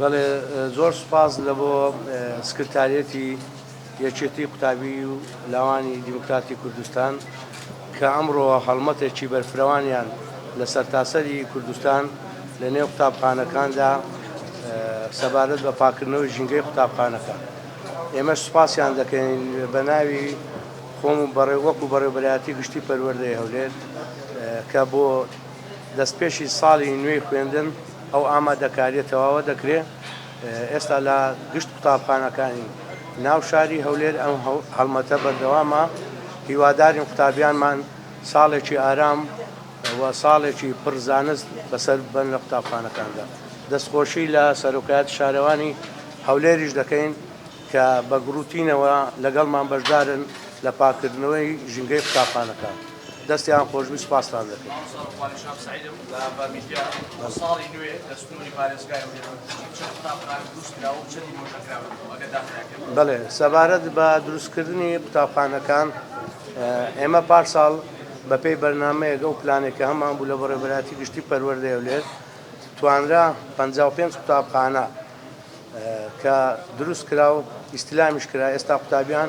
بەڵێ زۆر سوپاس لە بۆ سکرتاریەتی یەکێتی قوتابی و لاوانی دیموکراتی کوردستان کە ئەمڕۆ هەڵمەتێکی بەرفرەوانیان لە سەرتاسەری کوردستان لە نێو قوتابخانەکاندا سەبارەت بە پاکردنەوەی ژینگەی قوتابخانەکان ئێمە سوپاسیان دەکەین بە ناوی خۆم و بەڕێ وەک و بەڕێبەرایەتی گشتی پەروەردەی هەولێر کە بۆ دەستپێشی ساڵی نوێی خوێندن ئەو ئامادەکاریە تەواوە دەکرێ ئێستا لە گشت قوتابخانەکانی ناو شاری هەولێر ئەم هەڵمەتە بەردەوامە هیوادارین قوتابیانمان ساڵێکی ئارام و ساڵێکی پڕ زانست بەسەر بن لە قوتابخانەکاندا دەستخۆشی لە سەرۆکایەتی شارەوانی هەولێریش دەکەین کە بە گڕوتینەوە لەگەڵمان بەشدارن لە پاککردنەوەی ژینگەی قوتابخانەکان. دەستیان خۆشبی سوپاستان دەکەمبەێ سەبارەت بە دروستکردنی قوتابخانەکان ئێمە پارساڵ بەپی بەرنمەیەگە و پلانێکە هەمان بوو لە بەڕێبراتی گشتی پەروەردەیە لێت توانرا 55 قوتابخانە کە دروست کرا و ئیسلامیش کرا ئێستا قوتابیان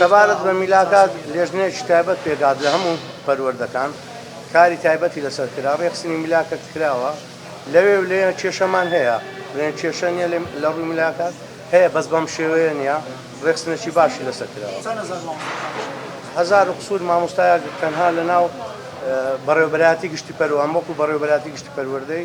سەبارەت بە میلاکات، لێژنەیەکی تایبەت پێکهات لە هەموو پەروەردەکان، کاری تایبەتی لەسەر کرا، رێکخستنی میلاکەت کراوە، لەوێ و لێیە کێشەمان هەیە، بڵێن کێشە نییە لە رووی میلاکات، هەیە بەس بەم شێوەیە نییە، رێکخستنێکی باشی لەسەر کراوە. چەند هەزار مامۆستا هەبوو؟ هەزار و قسور مامۆستایەک تەنها لەناو بەڕێوەبەرایەتی گشتی پەروەردەی،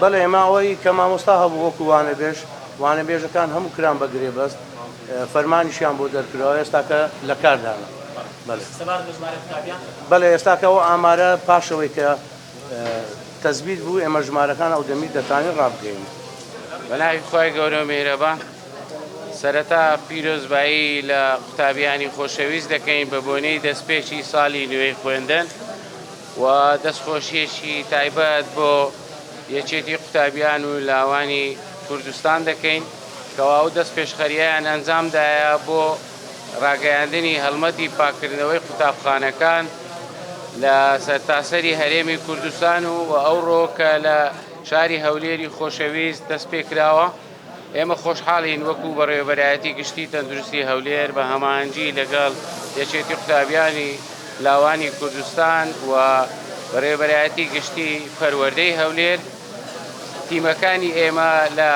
بەڵێ ماوەی کە مامۆستا هەبوو وەکو وانەبێژ، وانەبێژەکان هەموو کران بە گرێبەست، فەرمانیشیان بۆ دەرکراوە ئێستاکە لە کاردان. بەڵێ ئێستاکە ئەو ئامارە پاشەوەی کە تەسبیت بوو ئێمە ژمارەکان ئەو دەمی دەتوانین ڕابگەینین. بە ناوی خوای گەورەو میهرەبان. سەرەتا پیرۆزبایی لە قوتابیانی خۆشەویست دەکەین بە بۆنەی دەستپێکی ساڵی نوێی خوێندن. و دەستخۆشییەکی تایبەت بۆ یەکێتی قوتابیان و لاوانی کوردستان دەکەین کەوا ئەو دەستپێشخەرییەیان ئەنجامدایە بۆ ڕاگەیاندنی هەڵمەتی پاککردنەوەی قوتابخانەکان لە سەرتاسەری هەرێمی کوردستان و ئەوڕۆ کە لە شاری هەولێری خۆشەویست دەستپێکراوە. ئێمە خۆشحاڵین وەکو بەڕێوەبەرایەتی گشتی تەندروستی هەولێر بە هەماهەنگی لەگەڵ یەکێتی قوتابیانی لاوانی کوردستان و بەڕێوەبەرایەتی گشتی پەروەردەی هەولێر تیمەکانی ئێمە لە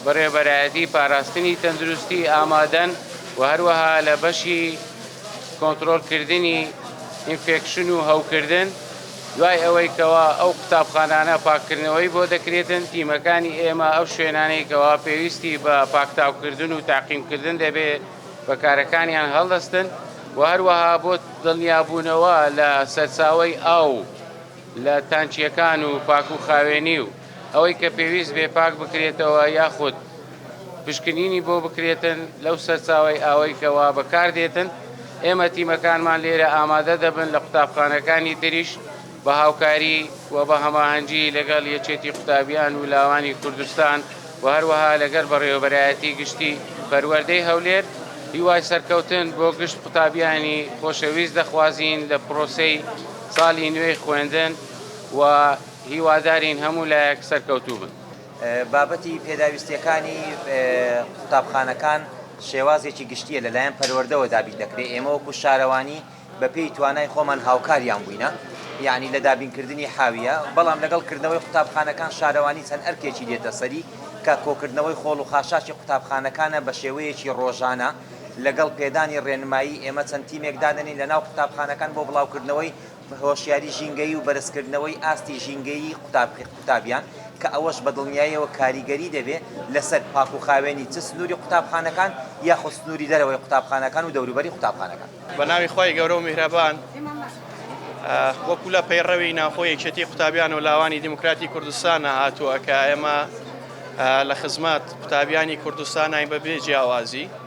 بەڕێوەبەرایەتی پاراستنی تەندروستی ئامادەن و هەروەها لە بەشی کۆنترۆڵکردنی ئینفێکشن و هەوکردن دوای ئەوەی کەوا ئەو قوتابخانانە پاککردنەوەی بۆ دەکرێتن، تیمەکانی ئێمە ئەو شوێنانەی کەوا پێویستی بە پاکتاوکردن و تەعقیمکردن دەبێ بە کارەکانیان هەڵدەستن و هەروەها بۆ دڵنیابوونەوە لە سەرچاوەی ئاو لە تانکییەکان و پاکوخاوێنی و ئەوەی کە پێویست بێ پاک بکرێتەوە یاخود پشکنینی بۆ بکرێتن لەو سەرچاوەی ئاوەی کەوا بەکاردێتن، ئێمە تیمەکانمان لێرە ئامادە دەبن لە قوتابخانەکانی تریش بە هاوکاری و بە هەماهەنگی لەگەڵ یەکێتی قوتابیان و لاوانی کوردستان و هەروەها لەگەر بەڕێوەبەرایەتی گشتی پەروەردەی هەولێر هیوای سەرکەوتن بۆ گشت قوتابیانی خۆشەویست دەخوازین لە پرۆسەی ساڵی نوێی خوێندن و هیوادارین هەموو لایەک سەرکەوتوو بن. بابەتی پێداویستییەکانی قوتابخانەکان شێوازێکی گشتییە لەلایەن پەروەردەوە دابین دەکرێت، ئێمە وەکو شارەوانی بەپێی توانای خۆمان هاوکاریان بووینە یەعنی لە دابینکردنی حاویە، بەڵام لەگەڵ کردنەوەی قوتابخانەکان شارەوانی چەند ئەرکێکی دێتە سەری کە کۆکردنەوەی خۆڵ و خاشاکی قوتابخانەکانە بەشێوەیەکی ڕۆژانە لەگەڵ پێدانی ڕێنمایی ئێمە چەند تیمێک دادەنێین لەناو قوتابخانەکان بۆ بڵاوکردنەوەی هۆشیاری ژینگەیی و بەرزکردنەوەی ئاستی ژینگەیی قوتابیان کە ئەوەش بە دڵنیاییەوە کاریگەری دەبێت لەسەر پاک و خاوێنی چ سنووری قوتابخانەکان یاخود سنووری دەرەوەی قوتابخانەکان و دەوروبەری قوتابخانەکان. بە ناوی خوای گەورە و میهرەبان. وەکو لە پەیڕەوی ناوخۆی یەکێتی قوتابیان و لاوانی دیموکراتی کوردستانە هاتووە کە ئێمە لە خزمەت قوتابیانی کوردستانین بەبێ جیاوازی.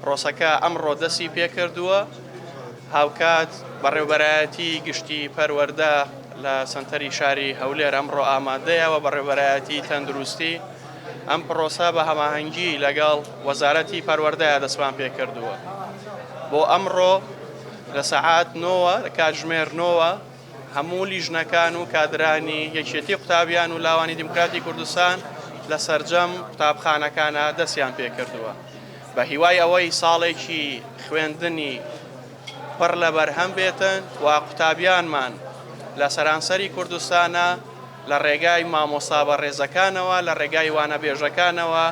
پرۆسەکە ئەمڕۆ دەستی پێکردووە، هاوکات بەڕێوبەرایەتی گشتی پەروەردە لە سەنتەری شاری هەولێر ئەمڕۆ ئامادەیە و بەڕێوبەرایەتی تەندروستی ئەم پرۆسە بە هەماهەنگی لەگەڵ وەزارەتی پەروەردە دەستمان پێکردووە بۆ ئەمڕۆ لە سەعات نۆوە لە کاتژمێر نۆوە. هەموو لیژنەکان و کادرانی یەکێتی قوتابیان و لاوانی دیموکراتی کوردستان لە سەرجەم قوتابخانەکانە دەستیان پێکردووە بە هیوای ئەوەی ساڵێکی خوێندنی پڕ لە بەرهەم بێتن و قوتابیانمان لە سەرانسەری کوردستانە لە ڕێگای مامۆستا بە ڕێزەکانەوە لە ڕێگای وانە بێژەکانەوە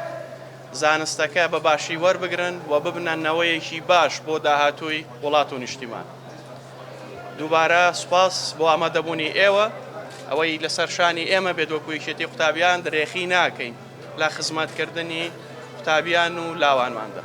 زانستەکە بە باشی وەربگرن و ببنە نەوەیەکی باش بۆ داهاتووی وڵات و نیشتیمان. دووبارە سوپاس بۆ ئامادەبوونی ئێوە. ئەوەی لەسەر شانی ئێمە بێت وەکو یەکێتی قوتابیان درێخی ناکەین لە خزمەتکردنی قوتابیان و لاوانماندا.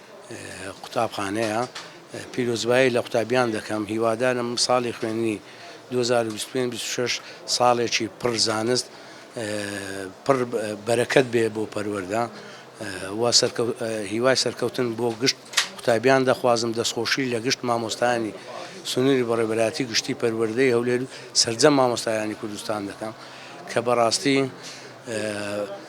قوتابخانەیە پیرۆزبایی لە قوتابیان دەکەم هیوادارم ساڵی خوێندنی 2025 ساڵێکی پڕ زانست پڕ بەرەکەت بێ بۆ پەروەەردە هیوای سەرکەوتن بۆ گشت قوتابیان دەخوازم دەستخۆشی لە گشت مامۆستایانی سنووری بەڕێبەراتی گشتی پەروەردەی هەولێر سەرجەم مامۆستایانی کوردستان دەکەم کە بەڕاستی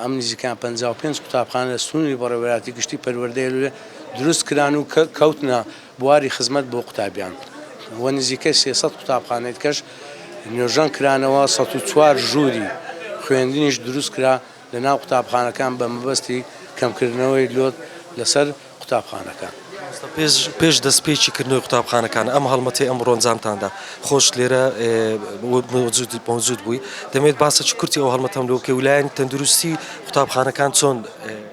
ئەم نزیکەیان پەنجا و پێنج قوتابخانە لە سنووری بەڕێوەبەرایەتی گشتی پەروەردەی لوولێ دروست کران و کەوتنە بواری خزمەت بۆ قوتابیان و نزیکەی سێ سەد قوتابخانەی دیکەش نۆژەن کرانەوە، سەد و چوار ژووری خوێندنیش دروست کرا لەناو قوتابخانەکان بە مەبەستی کەمکردنەوەی لۆد لەسەر قوتابخانەکان. مامۆستا پێش پێش دەستپێکی کردنەوەی قوتابخانەکان ئەم هەڵمەتەی ئەمڕۆ ئەنجامتاندا خۆشت لێرە مەوجود مەوجود بووی دەمەوێت باسێکی کورتی ئەو هەڵمەتەم لۆ بکەی و لایەنی تەندروستی قوتابخانەکان چۆن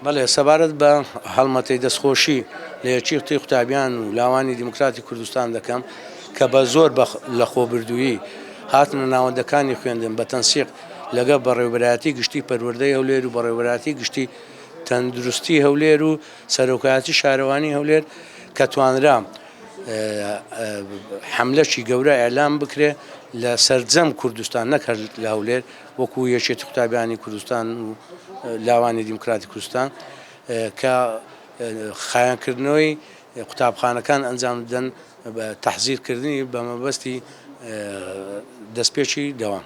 بەڵێ سەبارەت بە هەڵمەتەی دەستخۆشی لە یەکیی قوتەی قوتابیان و لاوانی دیموکراتی کوردستان دەکەم کە بە زۆر بە لەخۆبردوویی هاتنە ناوەندەکانی خوێندن بە تەنسیق لەگەڵ بەڕێوەبەرایەتی گشتیی پەروەردەی هەولێر و بەڕێوەبەرایەتی گشتیی تەندروستی هەولێر و سەرۆکایەتی شارەوانی هەولێر کە توانرا حملەشی گەورە ئەلام بکرێ لە سەرجەم کوردستان نەکرد لە هەولێر وەکو یەکێتی قوتابیانی کوردستان و لاوانی دیموکراتی کوردستان کە خایانکردنەوەی قوتابخانەکان ئەنجام بدەن تحزیرکردنی بە مەبەستی دەستپێکی دەوام.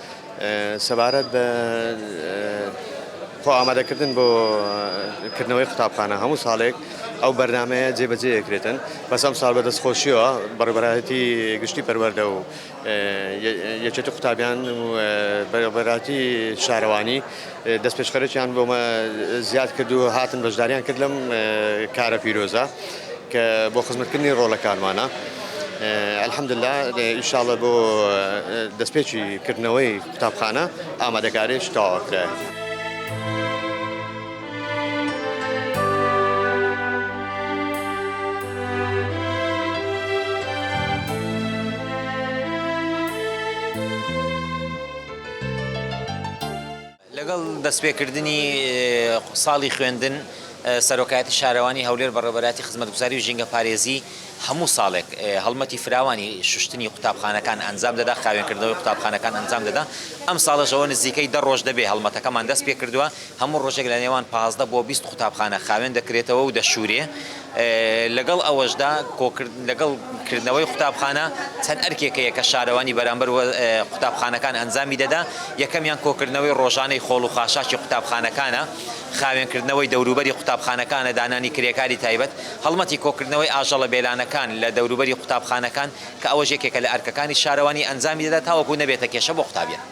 سەبارەت بە خۆئامادەکردن بۆ کردنەوەی قوتابخانە هەموو ساڵێک ئەو بەرنمەیە جێبەجێ یەکرێتن بەس ئەم ساڵ بەدەست خۆشیەوە بەڕبەتی گشتی پەروەەردە و یەکێت قوتابیان بەراتی شارەوانی دەستپێشخەرێکیان بۆ مە زیاد کرد و هاتن بەشداریان کرد لەم کارە پیرۆزە کە بۆ خزمەتکردنی ڕۆڵەکانمانە. الحمدللە ئینشاڵڵە بۆ دەستپێکی کردنەوەی قوتابخانە ئامادەکاریش تەواو کرایە. لەگەڵ دەستپێکردنی ساڵی خوێندن، سەرۆکایەتی شارەوانی هەولێر بەڕێوەبەرایەتی خزمەتگوزاری و ژینگەپارێزی هەموو ساڵێک هەڵمەتی فراوانی شوشتنی قوتابخانەکان ئەنجام دەدا، خاوێنکردنەوەی قوتابخانەکان ئەنجام دەدا، ئەمساڵش ئەوە نزیکەی دە ڕۆژ دەبێت هەڵمەتەکەمان دەستپێکردووە، هەموو ڕۆژێک لە نێوان پازدە بۆ بیست قوتابخانە خاوێن دەکرێتەوە و دەشورێ، لەگەڵ ئەوەشدا لەگەڵ کردنەوەی قوتابخانە چەند ئەرکێک هەیە کە شارەوانی بەرامبەر قوتابخانەکان ئەنجامی دەدا، یەکەمیان کۆکردنەوەی ڕۆژانەی خۆڵ و خاشاکی قوتابخانەکانە، خاوێنکردنەوەی دەوروبەری قوتابخانەکانە، دانانی کرێکاری تایبەت، هەڵمەتی کۆکردنەوەی ئاژەڵە بێلانەکان لە دەوروبەری قوتابخانەکان کە ئەوەش یەکێکە لە ئەرکەکانی شارەوانی ئەنجامی دەدا تاوەکو نەبێتە کێشە بۆ قوتابیان.